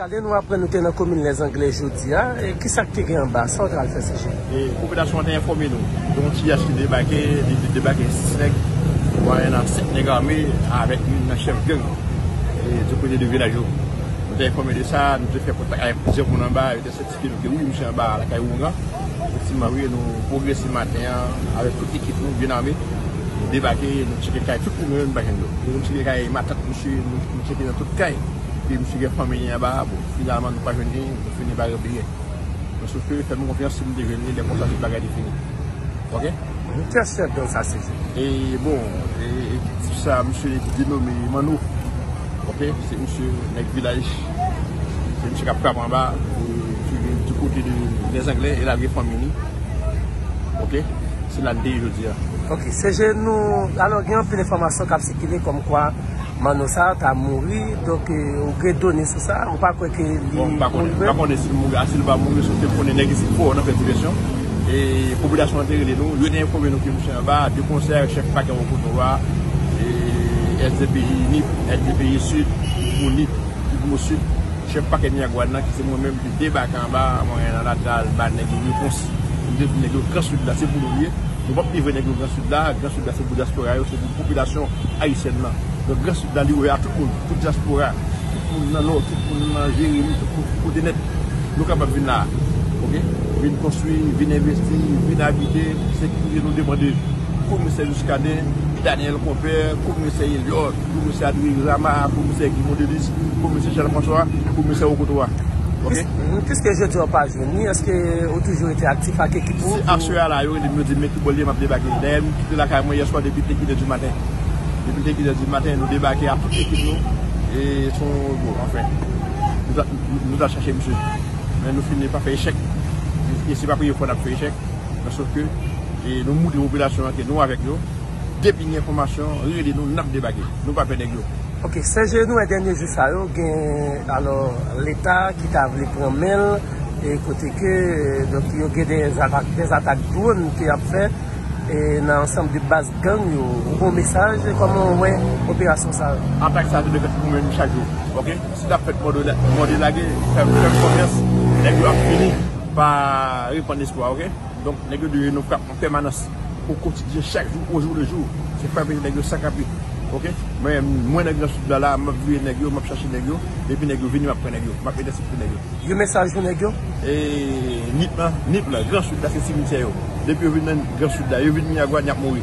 Muscadin nou aprann nou te nan komin Lèzanglè jodi a, ki sa k te gen anba, sa w te al fè CG? Popilasyon an te enfòme nou, gen yon ti yach ki debake, li di debake 6 nèg, mwayen an 7 nèg ame avèk youn nan chèf gang di kote de vilaj yo. Nou te enfòme de sa, nou te fè kontak avèk plizyè moun anba, yo te sètifye. Ke nou te wi misye anba lakay ougan. Efektivman wi nou pwogrese maten an avèk tout ekip nou byen ame. Nou debake nou tcheke kay tout moun yo nou pa jwenn yo. Nou tcheke kay matant misye nou tcheke nan tout kay. Ke misye gen fanmi li anba a bon finalman nou pa jwenn li nou fini pa repliye. Men sof ke fèm konfyans si nou te jwenn li lè konsa tout bagay te fini. Ok. Nou trè sèten sa se vre. E bon ekip sa misye denome Manno. Ok se misye nèg vilaj se misye kap frap anba ki vin di kote de les anglais e lage fanmi li ok se la lite jodi a. Ok CG nou alò gen anpil enfòmasyon kap sikile kòm kwa Manno sa ta mouri donk ou gen done sou sa ou pa kwè ke li mouri vre? Bon m pa konnen si l mouri a si l pa mouri se w te konnen nèg isit fò nan fè divèsyon. E popilasyon an te rele nou, yo te enfome nou ke misye anba, de konsèy ak chèf pakè Wokoto a, e SDPI Nip, SDPI Sud, pou Nip, ki pou Sud, chèf pakè Miragwàn nan, ki se mwen menm, te debake anba, mwen al nan latal, ba nèg yo repons, mwen te di nèg yo, Gran Sud la, se pou nou li ye, nou pap livre nèg yo Gran Sud la, Gran Sud la se pou dyaspora yo, se pou popilasyon ayisyèn nan. Donk Gran Sud la li ouvè a tout moun, tout dyaspora, tout moun nan Nò, tout moun nan Jeremi, tout moun ki kote nèt. Nou kapab vin la ok vin konstwi vin envesti vin abite se ki kote nou demande komisè Muscadin Daniel konpè komisè Eliot komisè Adrien Rama komisè Guy Mondelis komisè Charles François komisè Okoto a ok. Piske jodi a ou pa jwenn li eske ou toujou rete aktif ak ekip ou. Se aswè a la yo rele m yo di m men ki bò l ye m ap debake dayè m kite lakay mwen yèswa depi te kilè di maten depi te kilè di maten nou debake ak tout ekip nou e son bon anfen. Nou tal chache misye, men nou fini pa fè echèk. E se pa premye fwa nap fè echèk. Nan sof ke nou moutre popilasyon an ke nou avèk yo. Depi gen enfòmasyon, rele nou, nap debake. Nou pa pè nèg yo. Ok, sè je nou wè dènye jou sa yo gen alò leta ki ta vle pran men l e kote ke donk yo gen de zatak dwonn ke yap fè e nan ansanm de baz gang yo. Ou gen yon mesaj? Kòman ou wè operasyon sa yo? Atak sa yo te dwe fèt pou mwen chak jou. Ok. Si tap fèt mòde lage fè konfyans nèg yo ap fini pa repann espwa ok donk nèg yo dwe yon frap an pèmanans o kotidyen chak jou o jou le jou se frape nèg yo san kanpe ok mwen nan gran sud la la map veye nèg yo map chache nèg yo depi nèg yo vini map pran nèg yo map entèsepte nèg yo. Yon mesaj pou nèg yo? E nip lan nip lan gran sud la se simityè yo depi yo vin nan gran sud la yo vin miragwàn yap mouri.